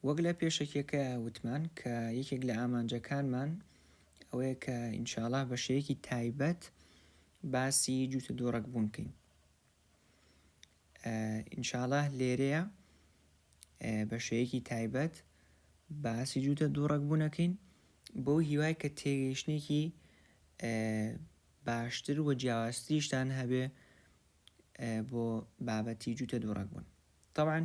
وەک لە پێشەکیەکە وتمان کە یەکێک لە ئامانجەکانمان ئەوەیە کە ئینشاالله بە شێوەیەکی تایبەت باسی جووتە دۆڕک بوون بکەین ئینشاالله لێرەیە بە شێوەیەکی تایبەت باسی جووتە دووڕک بوونەکەین بۆ هیوای کە تێگەیشتێکی باشتر و جیاوازتریشتان هەبێ بۆ بابەتی جووتە دووڕک بوون تەبعەن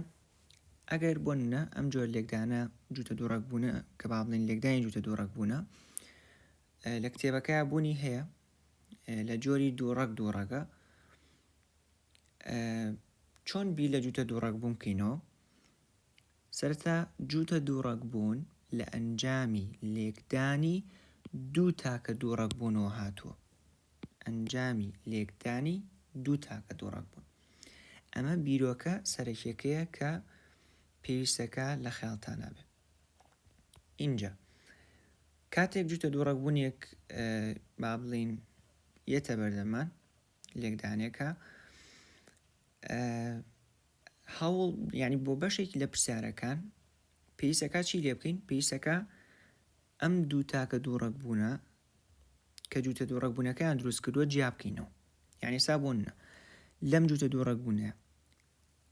ئەگەر بۆ نمونە ئەم جۆر لێکدانە جووتە دووڕک بوونە کە با بڵێن لێکدانی جووتە دووڕک بوونە لە کتێبەکە بوونی هەیە لە جۆری دووڕک دووڕەکە چۆن بی لە جووتە دووڕک بوون بکەینەوە سەرتا جووتە دووڕک بوون لە ئەنجامی لێکدانی دوو تاکە دووڕک بوونەوە هاتووە ئەنجامی لێکدانی دوو تاکە دووڕەگ بوون. ئەمە بیرۆکە سەرەکیەکەیە کە پێویستە کە لە خەیاڵتانا بێ. ئینجا کاتێک جوتە دووڕەگ بوونێک با بڵین یەتە بەردەمان لێکدانێکە هەوڵ ینی بۆ بەشێکی لە پرسیارەکان پێویستەکە چی لێ بکەین پێویستەکە ئەم دوو تاکە دوو ڕەگ بوونە کە جووتە دوو ڕەگ بوونەکەیان دروست کردووە جیا بکەینەوە یعنی سا بۆ نە لەم جووتە دوو ڕەگ بوونە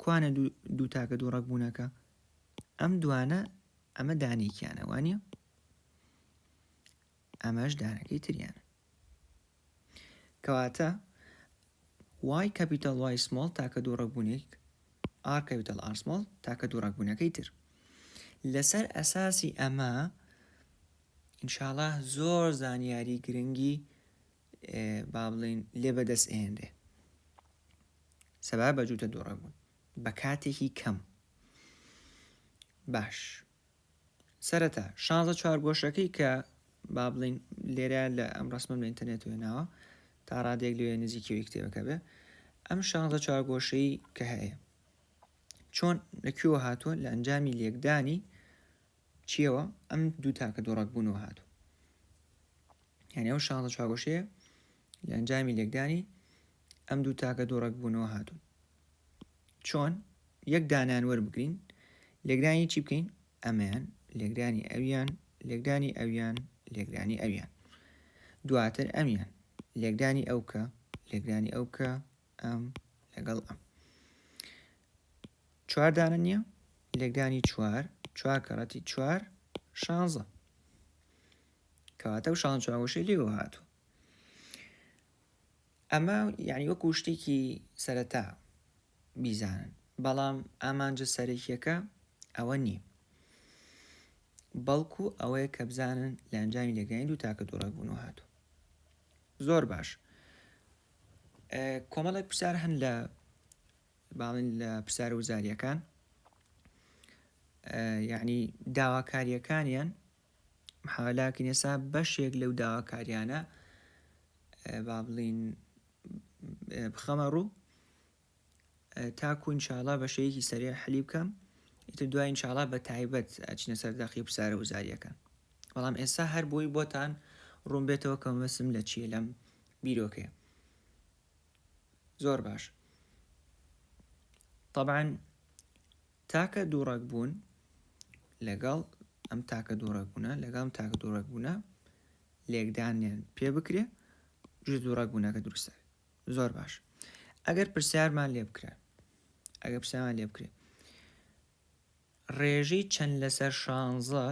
کوانە دوو تاکە دوو ڕەگ بوونەکە ئەم دوانە ئەمە دانێکیانە وانە ئەمەش دانەکەی تریانە کەواتە وای کەپیتال وای سمۆڵ تاکە دوو ڕەگبوونێک ئار کەپیتال ئار سمۆڵ تاکە دوو ڕەگبوونەکەی تر لەسەر ئەساسی ئەمە ئینشاالله زۆر زانیاری گرنگی با بڵین لێ بەدەست ئێنرێ سەبا بە جووتە دووڕەبوون بە کاتێکی کەم باش سەرەتا شانزە چوارگۆشەکەی کە با بڵین لێرە لە ئەم ڕسمم لە ئینتەرنێت وێناوە تا ڕادێک لێ نزیکەوەی کتێبەکە بێ ئەم شانزە چوارگۆشەی کە هەیە چۆن لەکوێوە هاتووە لە ئەنجامی لێکدانی چیەوە ئەم دوو تاکە دۆڕک بوونەوە هاتوو یعنی ئەو شانزە چوارگۆشەیە لە ئەنجامی لێکدانی ئەم دوو تاکە دوو ڕەگ بوونەوە هاتوون چۆن یەک دانان وەربگرین لێکدانی چی بکەین ئەمەیان لێکدانی ئەویان لێکدانی ئەویان لێکدانی ئەویان دواتر ئەمیان لێکدانی ئەو کە لێکدانی ئەو کە ئەم لەگەڵ ئەم چواردانە نییە لێکدانی چوار چوار کەڕەتی چوار شانزە کەواتە و شان چاوەشەی لێوە هاتوو ئەمە یعنی وەکو شتێکی سەرەتا بیزانن بەڵام ئامانجە سەرەکیەکە ئەوە نییە بەڵکو ئەوەیە کە بزانن لە ئەنجامی لێگەین دوو تاکە دوڕێک بوون و هاتو زۆر باش کۆمەڵێک پرسیار هەن لە باڵین لە پرسیار وزاریەکان یعنی داواکاریەکانیان لاکن ئێستا بەشێک لەو داواکاریانە با بڵین بخەمە ڕوو تاکو انشاءاللە بە شەیەکی سەرێ حەلی بکەم ئیتر دوای انشاءاللە بە تایبەت ئەچنە سەر داقی پرسیارە وزاریەکان بەڵام ئێستا هەر بۆی بۆتان ڕوون بێتەوە کە مەسم لە چیە لەم بیرۆکەیە زۆر باش طبعا تاکە دووڕەگبوون لەگەڵ ئەم تاکە دووڕەگبوونە لەگەڵ ئەم تاکە دووڕەگبوونە لێکدانیان پێ بکرێ جز دووڕەگبوونەکە دروستە زۆر باش ئەگەر پرسیارمان لێ بکرێ ئەگەر پرسیارمان لێ بکرێ ڕێژەی چەند لەسەر شانزە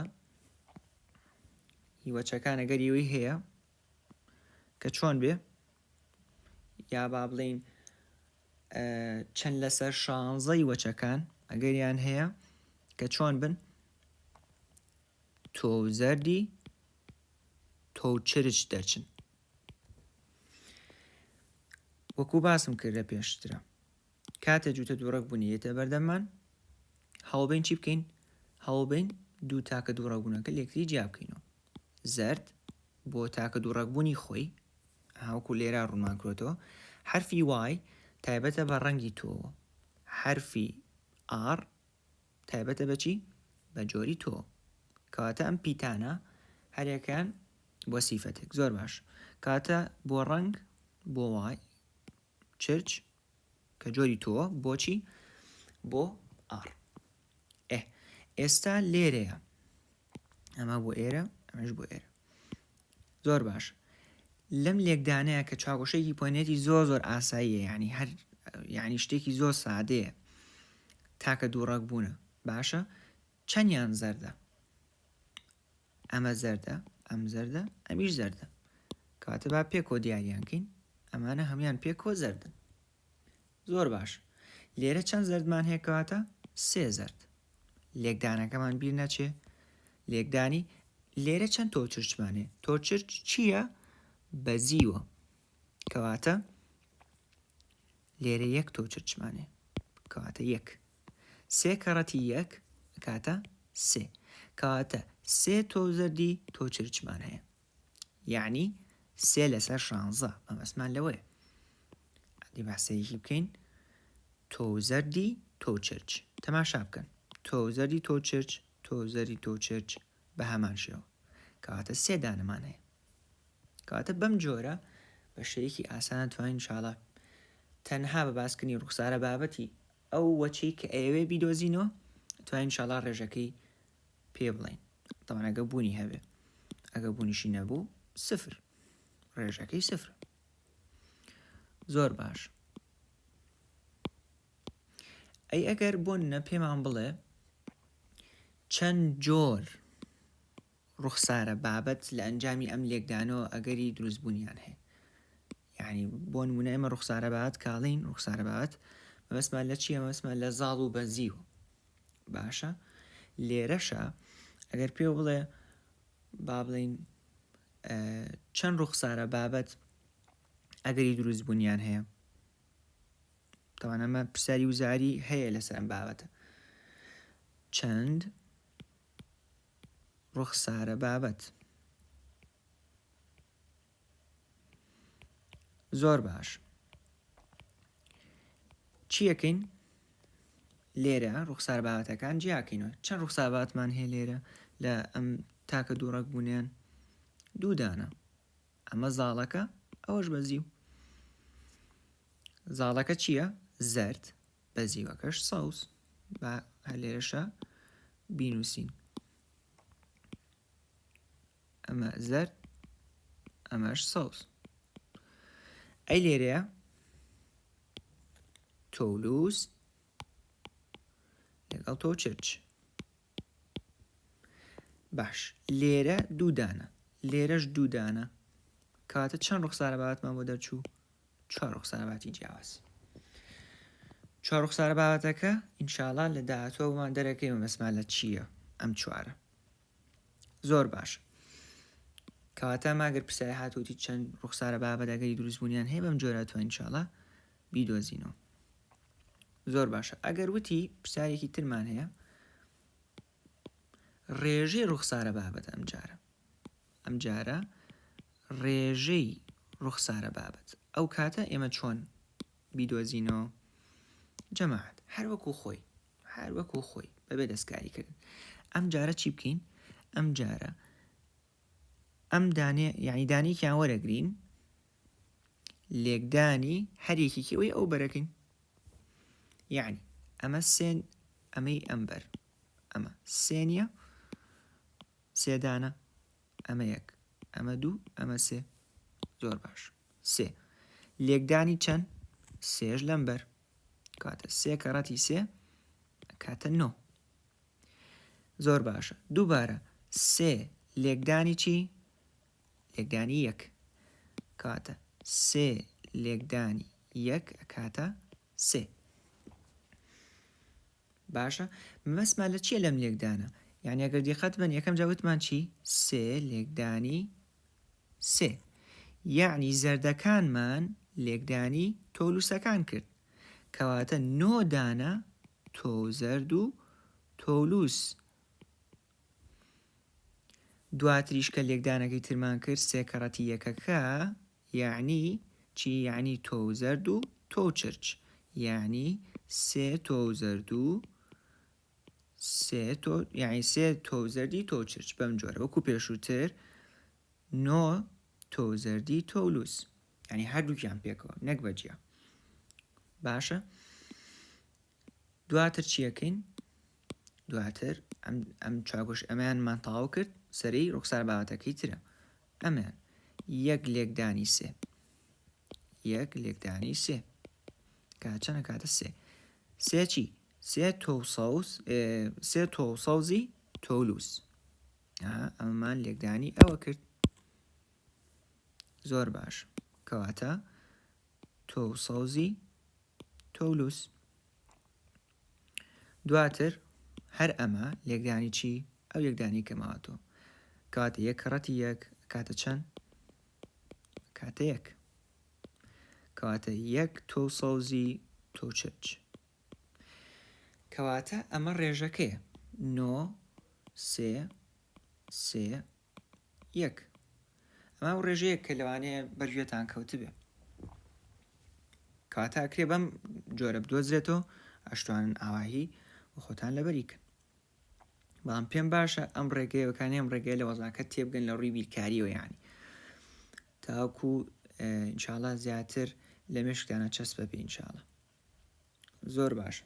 هیوەچەکان ئەگەر یوی هەیە کە چۆن بێ یا با بڵین چەند لەسەر شانزەی وەچەکان ئەگەریان هەیە کە چۆن بن تۆ زەردی تۆ چرچ دەچن وەکو باسم کرد لە پێشترە کاتە جوتە دووڕک بوونیێتە بەردەمان هەوڵبین چی بکەین هەوڵبین دوو تاکە دووڕگونەکە لەکتری جیا بکەینەوە زەرد، بۆ تاکە دوو ڕەگبوونی خۆی، هاوکو لێرا ڕوونمان کرۆتەوە، حەرفی وای تایبەتە بە ڕەنگی تۆ، حەرفی ئاڕ تایبەتە بە چی؟ بە جۆری تۆ. کەواتە ئەم پیتانە هەرێکیان بۆ سیفەتێک زۆر باش کاتە بۆ ڕەنگ بۆ وای چرچ کە جۆری تۆوە بۆچی بۆ ئاڕ ئێ ئێستا لێرەیە ئەمە بۆ ئێرە ئەمەش بۆ ئێرە زۆر باش لەم لێکدانەیە کە چاوەشێکی پۆنێتی زۆر زۆر ئاساییە ینی هەر ینی شتێکی زۆر سادەیە تاکە دووڕک بوونە باشە چەنیان زەردە ئەمە زەردە ئەم زەردە ئەمیش زەردە کاتە با پێکۆ دیاریان کەین ئەمانە هەمان پێکۆ زەردن زۆر باش لێرە چەند زەردمان هەیەکەواتە سێ زەرد لێکدانەکەمان بیر نەچێ لێکدانی لێرە چەند تۆ چرچمانێ تۆ چرچ چییە بەزیوە کەواتە لێرە یەک تۆ چرچمانێ کەواتە یەک سێ کەڕەتی یەک ئەکاتە سێ کەواتە سێ تۆو زەردی تۆ چرچمان هەیە یعنی سێ لەسەر شانزە مەمەسمان لەوەیە ئەدی باسەیەکی بکەین تۆو زەردی تۆ چرچ تەماشا بکەن تۆو زەردی تۆ چرچ تۆ زەری تۆ چرچ بە هەمان شێوە کەواتە سێ دانەمان هەیە کەواتە بەم جۆرە بە شێیەکی ئاسان توانین انشاءاللە تەنها بە باسکردنی ڕوخسارە بابەتی ئەو وەچەی کە ئەیەوێ بیدۆزینەوە توانین انشاءاللە ڕێژەکەی پێ بڵین طبعا ئەگە بوونی هەبێ ئەگە بوونیشی نەبوو سفر ڕێژەکەی سفر زۆر باش ئەی ئەگەر بۆن نە پێمان بڵێ چەند جۆر ڕوخسارە بابەت لە ئەنجامی ئەم لێکدانەوە ئەگەری دروست بوونیان هەیە یعنی بۆ نمونە ئێمە ڕوخسارە بابەت کاڵین ڕوخسارە بابەت مەبەسمان لە چیە مەبەسمان لە زاڵ و بەزی و باشە لێرەشە ئەگەر پێ بڵێ با بڵین چەند ڕوخسارە بابەت ئەگەری دروست بوونیان هەیە تاوانەمە پرسیاری وزاری هەیە لەسەر ئەم بابەتە چەند ڕوخسارە بابەت. زۆر باش چیەکەین لێرە ڕوخسار بابەتەکان جیاکەینەوە چەند ڕوخسار باتمان هەیە لێرە لە ئەم تاکە دوو ڕەک بوونیان دوودانە ئەمە زاڵەکە ئەوەش بەزی و زاڵەکە چییە زرد بە زیوەکەش سەوز با هەر لێرەشە بینووسین ئەمە زەرد ئەمەش سەوز ئەی لێرەیە تۆلووس لەگەڵ تۆ چرچ باش لێرە دوو دانە لێرەش دوو دانە کاتە چەند ڕوخسارە بابەتمان بۆ دەرچوو چوار ڕوخسارە باتی جیاواز چوار ڕوخسارە بابەتەکە ئینشاالله لە داهاتوەمان دەرەکەی مەمەسما لە چییە ئەم چوارە زۆر باش کەواتە ماگەر پرسیاری هاتووتی چەند ڕوخسارە بابەتەکەی دروستبوونیان هەیە بەم جۆرە توانین چاڵە بیدۆزینەوە زۆر باشە ئەگەر وتی پرسیارێکی ترمان هەیە ڕێژەی ڕوخسارە بابەت ئەم جارە ئەم جارە ڕێژەی ڕوخسارە بابەت ئەو کاتە ئێمە چۆن بیدۆزینەوە جەماعات هەر وەکو خۆی هەر وەکو خۆی بەبێ دەستکاری کردن ئەم جارە چی بکەین ئەم جارە ئەم دانێ یعنی دانێکیان وەرەگرین لێکدانی هەر یەکێکی ئەوەی ئەو بەرەکەین یعنی ئەمە سێن ئەمەی ئەمبەر ئەمە سێنە سێدانە ئەمە یەک ئەمە دوو ئەمە سێ زۆر باش سێ لێکدانی چەند سێش لەمبەر کاتە سێ کەڕەتی سێ کاتە نۆ زۆر باشە دووبارە سێ لێکدانی چی لێکدانی یەک کاتە سێ لێکدانی یەک ئەکاتە سێ باشە مەسما لە چیە لەم لێکدانە یعنی ئەگەر دیقەت بن یەکەم جاوتمان چی سێ لێکدانی سێ یعنی زەردەکانمان لێکدانی تۆلوسەکان کرد کەواتە نۆدانە تۆ زەرد و تۆلوس دواتریش کە لێکدانەکەی ترمان کرد سێ کەڕەتی یەکەکە یەعنی چی یەعنی تۆ و زەرد و تۆ و چرچ یەعنی سێ تۆ و زەرد و سێ تۆ یەعنی سێ تۆ و زەردی تۆ و چرچ بەم جۆرە وەکو پێشووتر نۆ تۆ و زەردی تۆ و لوس یعنی هەردووکیان پێکەوە نەک بەجیا باشە دواتر چیەکەین دواتر ئەم ئەم چاگوش ئەمیان من تاو کرد سەری ڕوخسار باوەتەکەی ترە ئەمیان یەک لێکدانی سێ یەک لێکدانی سێ کاچەنە کاتە سێ سێ چی سێ تۆ سەوز سێ تۆ سەوزی تۆلووس ئەمەمان لێکدانی ئەوە کرد زۆر باش کەواتە تۆ سەوزی تۆلووس دواتر هەر ئەمە لێکدانی چی ئەو یەکدانی کەماوەتەوە کەواتە یەک کەڕەتی یەک کاتە چەند کاتە یەک کەواتە یەک تۆ سەوزی تۆ چرچ کەواتە ئەمە ڕێژەکەی نۆ سێ سێ یەک، ئەمە ئەو ڕێژەیە کە لەوانەیە بەرگوێتان کەوتبێ کەواتە ئەکرێ بەم جۆرە بدۆزرێتەوە ئەشتوانن ئاواهی و خۆتان لەبەریکن بەڵام پێم باشە ئەم ڕێگەیەکانی ئەم ڕێگەی لە وەزاکە تێبگەن لە ڕووی بیرکاریەوە یانی تاکو انشاءڵە زیاتر لە مشکدانە چەسپە بینشاڵە زۆر باشە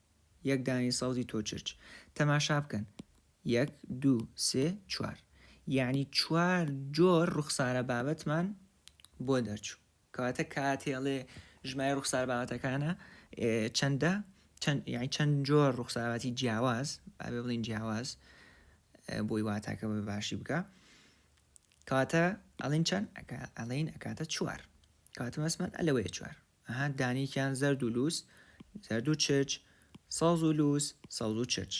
یەک دانەی سەوزی تۆ چرچ. تەماشا بکەن، یەک، دوو، سێ، چوار. یەعنی چوار جۆر ڕوخسارە بابەتمان بۆ دەرچوو. کەواتە کاتێڵێ ژمای ڕوخسار بابەتەکانە چەندە یعنی چەند جۆر ڕوخساراتی جیاواز بابێ بڵین جیاواز بۆی واتاکە بە باشی بکە کاتە ئەڵین چەند ئەڵین ئەکاتە چوار کاتمەسمان ئەلەوەیە چوار ئەها دانیکیان زەرد و لووس زەرد و چرچ سەوز و لووس سەوز و چرچ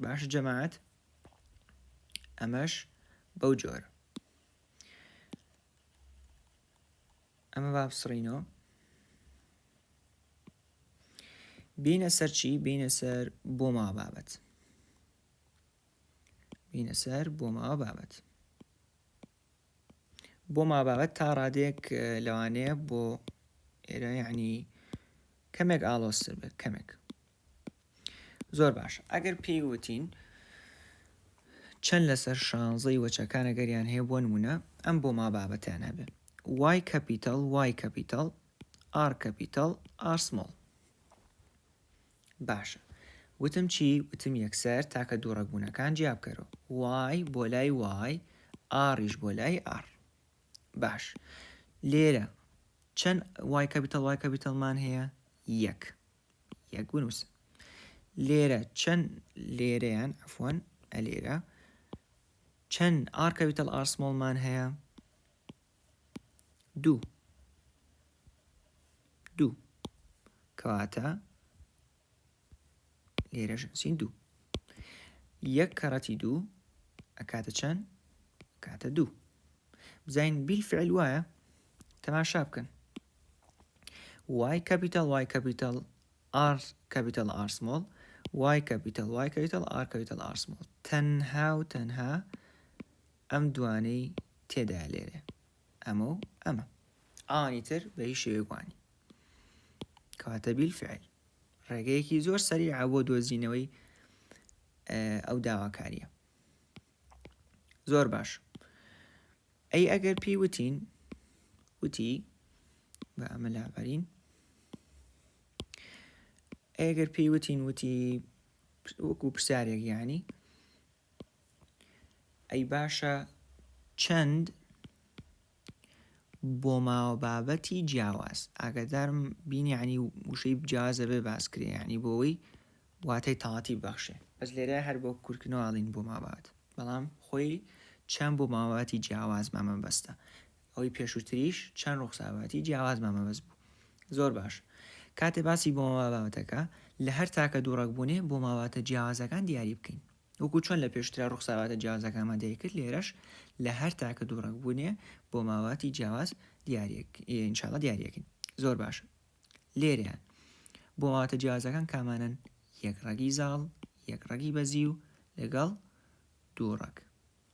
باش جەماعەت ئەمەش بەو جۆر ئەمە با بسڕینەوە بینە سەر چی بینە سەر بۆ ما بابەت بینە سەر بۆ ما بابەت بۆ مابابەت تا ڕادێک لەوانەیە بۆ ئێرە یعنی کەمێک ئاڵۆستر بێت کەمێک زۆر باش ئەگەر پێی وتین چەند لەسەر شانزەی وەچەکان ئەگەریان هەیە بۆ نمونە ئەم بۆ ما بابەتیان هەبێ وای کەپیتەڵ وای کەپیتەڵ ئار کەپیتەڵ ئارسمۆڵ باشە وتم چی وتم یەکسەر تاکە دوو ڕەگبوونەکان جیا بکەرۆ وای بۆ لای وای ئاڕیش بۆ لای ئاڕ باش لێرە چەند وای کەپیتەڵ وای کەپیتەڵمان هەیە یەک یەک بنووسە لێرە چەند لێرەیان ئەفۆن ئەلێرە چەند ئارکەویتەڵ ئارسمۆڵمان هەیە دوو دوو کەواتە لێرە ژنسین دوو یەک کەڕەتی دوو ئەکاتە چەند کاتە دوو بزین بیل فعل وایە تەماشا بکەن وای کەپیتال وای کەپیتال ئار کەپیتال ئارسمۆڵ وای کەپیتال وای کەپیتال ئار کەپیتال ئارسمۆڵ تەنها و تەنها ئەم دوانەی تێدایە لێرێ ئەمە و ئەمە ئەوانی تر بە هیچ شێوەیەک وانی کەواتە بیلفعل ڕێگەیەکی زۆر سەریعە بۆ دۆزینەوەی ئەو داواکاریە زۆر باش ئەی ئەگەر پێی وتین وتی بە ئەمە لابەرین ئەگەر پێی وتین وتی وەکو پرسیارێک یانی ئەی باشە چەند بۆ ماوە بابەتی جیاواز ئاگادارم بینیانی وشەی جیازە بێ باسکرێ ینی بۆەوەی واتای تاڵاتی بەخشێ بەس لێرە هەر بۆ کورتکردنەوەڵین بۆ ماوات بەڵام خۆی چەند بۆ ماوەتی جیاواز مامە بەستە ئەوەی پێشووتریش چەند ڕوخساواتی جیاوازمان مەبەست بوو. زۆر باش. کاتێ باسی بۆماوا بابەتەکە، لە هەر تاکە دوو ڕەگ بوونێ بۆماواتە جیاوازەکان دیاری بکەین. وەکوو چۆن لە پێشووترا ڕوخساواتە جیاوازەکانمان دیاری کرد لێرەش لە هەر تاکە دوو ڕەگ بوونێ بۆماواتی جیاواز دیاریەک ان شاء اللە دیاریەکەین. زۆر باش. لێرەیان بۆماواتە جیاوازەکان کامانەن؟ یەک ڕەگی زاڵ، یەک ڕەگی بەزیو لەگەڵ دوو ڕەگ.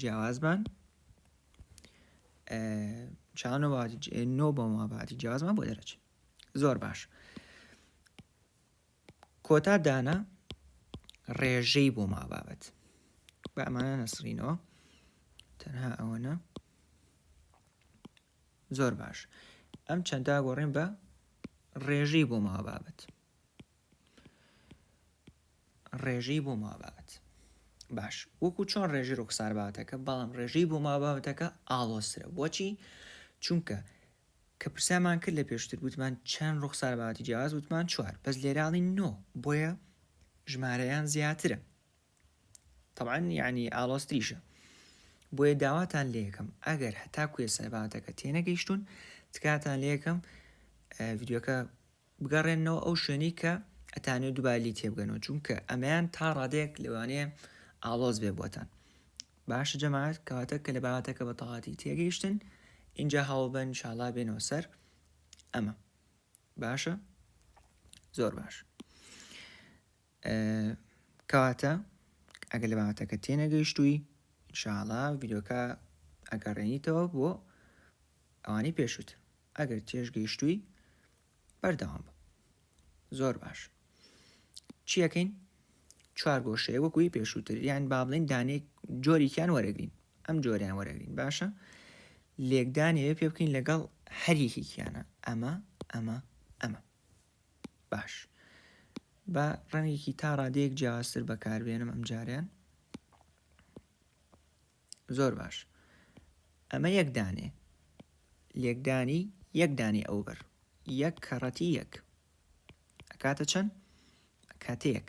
جیاواز بان چانە نۆ بە ماباتی جیازمان بۆ دەرەچ زۆر باش کۆتا دانا ڕێژەی بۆ ما بابەت بە ئەمانە نەسرینەوە تەنها ئەوەنە زۆر باش ئەم چەنددا گۆڕێن بە ڕێژەی بۆ ما بابەت ڕێژەی بۆ مابات باش وەکو چۆن ڕێژی ڕوخسار بابەتەکە بەڵام ڕێژەی بۆ مابابەتەکە ئاڵۆسرە بۆچی چونکە کە پرسیامان کرد لە پێشتر گوتمان چەند ڕوخسار باتی جیاز وتمان چوار بەس لێراڵی نۆ بۆیە ژمارەیان زیاترە تەبعەن یعنی ئاڵۆزتریشە بۆیە داواتان لێکم ئەگەر هەتا کوێ سەرباتەکە تێنەگەیشتون تکاتان لێکم ڤیددیوکە بگەڕێنەوە ئەو شوێنی کە ئەتانێ دوبالی تێبگەنەوە چونکە ئەمەیان تا ڕادێک لەوانەیە ئاڵۆز بێ بۆتان باشە جەماعات کەواتە کە لە باواتەکە بە تەواتی تێگەیشتن اینجا هەوڵبەن شاڵا بێنەوە سەر ئەمە باشە زۆر باش کەواتە ئەگەر لە بابەتەکە تێنەگەیشتووی انشاءاللە ڤیدۆکە ئەگەڕێنیتەوە بۆ ئەوانی پێشووتر ئەگەر تێشگەیشتووی بەردەوام بە زۆر باش چیەکەین چوار گۆشەیە وەکوی پێشووتر یان با بڵین دانێک جۆریکیان وەرەگرین ئەم جۆریان وەرەگرین باشە لێکدانێ پێ بکەین لەگەڵ هەریەکێکیانە ئەمە ئەمە ئەمە باش با ڕەنگێکی تا ڕادەیەک جیاوازتر بەکاربێنم ئەم جاریان زۆر باش ئەمە یەک دانێ لێکدانی یەک دانی ئەو بەر یەک کەڕەتی یەک ئەکاتە چەند کاتەیەک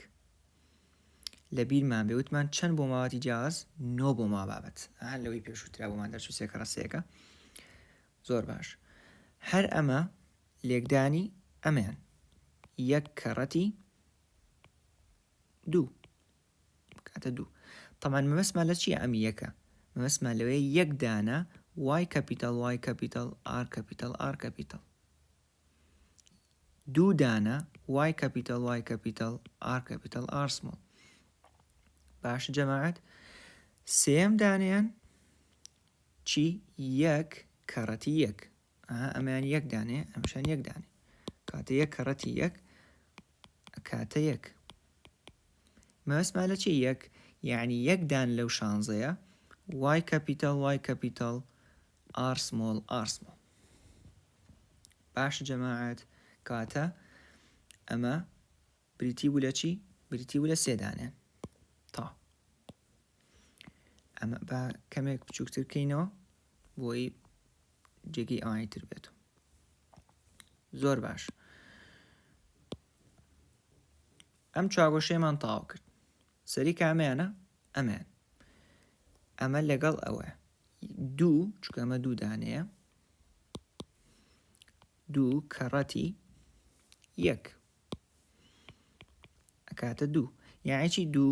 لە بیرمان بێ وتمان چەند بۆ ماواتی جیاز نۆ بۆ ما بابەت هەر لەوەی پێشووترا بۆمان دەرچوو سێکەڕە سێکە زۆر باش هەر ئەمە لێکدانی ئەمەیان یەک کەڕەتی دوو کاتە دوو تەمان مەبەسمان لە چیە ئەم یەکە مەبەسمان لەوەیە یەک دانە وای کەپیتال وای کەپیتال ئار کەپیتال ئار کەپیتال دوو دانە وای کەپیتال وای کەپیتال ئار کەپیتال ئارسمۆ باش جەماعات سێم دانیان چی یەک کەڕەتی یەک ئەها ئەمەیان یەک دانێ ئەمشان یەک دانێ کاتە یەک کەڕەتی یەک کاتە یەک مەسما لە چی یەک یعنی یەک دان لەو شانزەیە وای کەپیتال وای کەپیتال ئارسمۆڵ ئارسمۆ باش جەماعات کاتە ئەمە بریتی بوو لە چی بریتی بوو لە سێدانێن تا ئەمە با کەمێک بچووکتر بکەینەوە بۆی جێگەی ئەوانی تر بێت زۆر باش ئەم چاگۆشەیەمان تاو کرد سەری کامیانە ئەمان ئەمە لەگەڵ ئەوە دوو چکەمە دوو دانەیە دوو کەڕەتی یەک ئەکاتە دوو یاعی چی دوو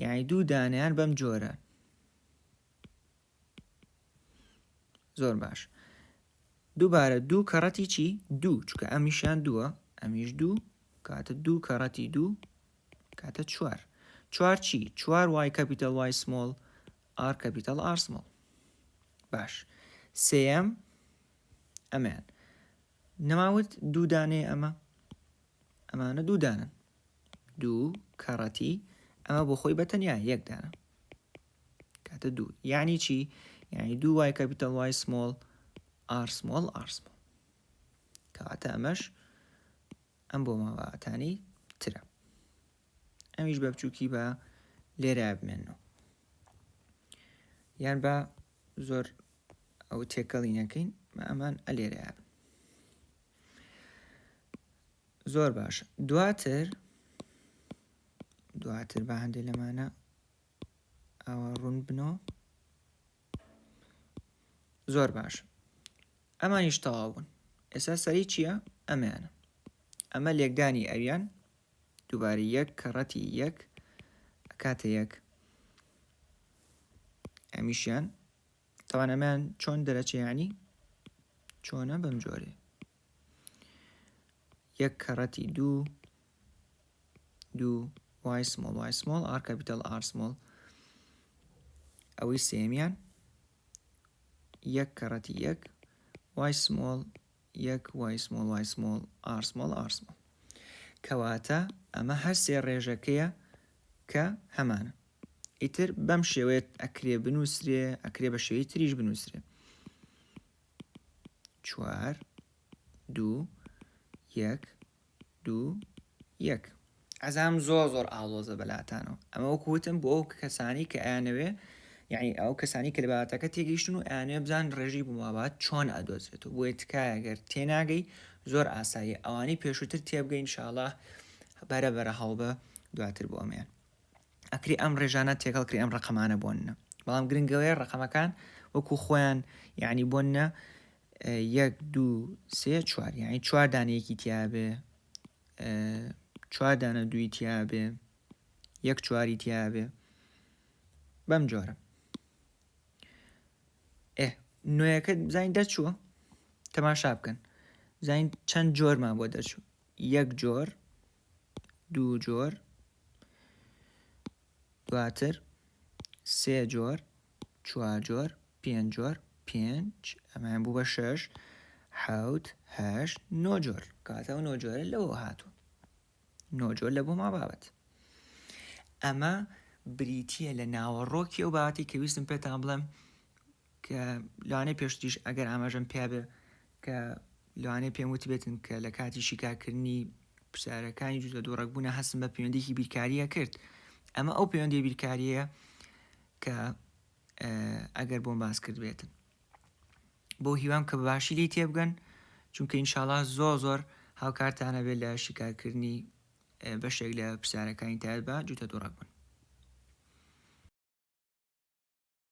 یاعی دوو دانیان بەم جۆرە زۆر باش دووبارە دوو کەڕەتی چی دوو چکە ئەمیشان دووە ئەمیش دوو کاتە دوو کەڕەتی دوو کاتە چوار چوار چی چوار وای کەپیتەل وای سمۆڵ ئار کەپیتەل ئارسمۆڵ باش سم ئەمیان نەماوت دوو دانەیە ئەمە ئەمانە دوو دانن دوو کەڕەتی ئەمە بۆ خۆی بەتەنیا یەک دانە کاتە دوو یعنی چی یعنی دوو وای کەپیتال وای سمۆڵ ئارسمۆڵ ئارسمۆڵ کەواتە ئەمەش ئەم بۆ ماواتانی ترە ئەمیش بە بچووکی بە لێرە بمێنەوە یان بە زۆر ئەو تێکەڵی نەکەین مە ئەمان ئەلێرەیە زۆر باش دواتر دواتر بە هەندێ لەمانە ئەوە ڕوون بنۆ زۆر باش ئەمانیش تەواو بوون ئێستا سەری چییە ئەمەیانە ئەمە لێکدانی ئەویان دووبارە یەک کەڕەتی یەک کاتە یەک ئەمیشیان تاوان ئەمان چۆن دەرەچێ یعنی چۆنە بەم جۆرێ یەک کەڕەتی دوو دوو وای سمۆڵ وای سمۆڵ ئار کەپیتال ئار سمۆڵ ئەوەی سێمیان یەک کەڕەتی یەک وای سمۆڵ یەک وای سمۆڵ وای سمۆڵ ئار سمۆڵ ئار سمۆڵ کەواتە ئەمە هەر سێ ڕێژەکەیە کە هەمانە ئیتر بەم شێوەیە ئەکرێ بنووسرێ ئەکرێ بە شێوەی تریش بنووسرێ چوار دوو یەک دوو یەک. ئەزانم زۆر زۆر ئاڵۆزە بەلاتانەوە ئەمە وەکو وتم بۆ ئەو کەسانی کە ئەیانەوێ یعنی ئەو کەسانی کە لە بابەتەکە تێگەیشتن و ئەیانەوێ بزان ڕێژی بمابات چۆن ئەدۆزرێت و بۆیە تکایە گەر تێناگەی زۆر ئاساییە ئەوانی پێشووتر تێبگەین شاڵە بەرە بەرە هەڵبە دواتر بۆ ئەمیان ئەکرێ ئەم ڕێژانە تێکەڵ کرێ ئەم ڕقەمانە بۆنە بەڵام گرنگەوەیە ڕقەمەکان وەکو خۆیان یعنی بۆنە یەک دوو سێ چوار یعنی چواردانەیەکی تیاابێ چواردانە دووی تیاابێ یەک چواری تیاابێ بەم جۆرە ئێ نوێەکە بزانین دەرچووە تەماشا بکەن زین چەند جۆرمان بۆ دەرچوو یەک جۆر دوو جۆر دواتر سێ جۆر چوار جۆر پێنج جۆر پێنج ئەمان بوو بە شەش حوت هەش نۆ جۆر کاتە و نۆ جۆرە لەوە هاتوو نۆ جۆر لە بۆ ما بابەت ئەمە بریتە لە ناوەڕۆکی و باتی کە ویستم پێتان بڵێم کە لەوانەیە پێشتریش ئەگەر ئاماژەم پیابێ کە لەوانەیە پێم وتبێتن کە لە کاتی شیکارکردنی پرسیارەکانی جوزە دوو ڕەگبوونە هەستم بە پەیوەندێکی بیرکاریە کرد ئەمە ئەو پەیوەندی بیرکاریە کە ئەگەر بۆم باس کرد بێتن بۆ هیوام کە باشی لی تێبگەن چونکە ئینشاالله زۆ زۆر هاوکارتانە بێت لە شیکارکردنی بەشێک لە پرسیارەکانی تایبە جوتە دوڕەک بن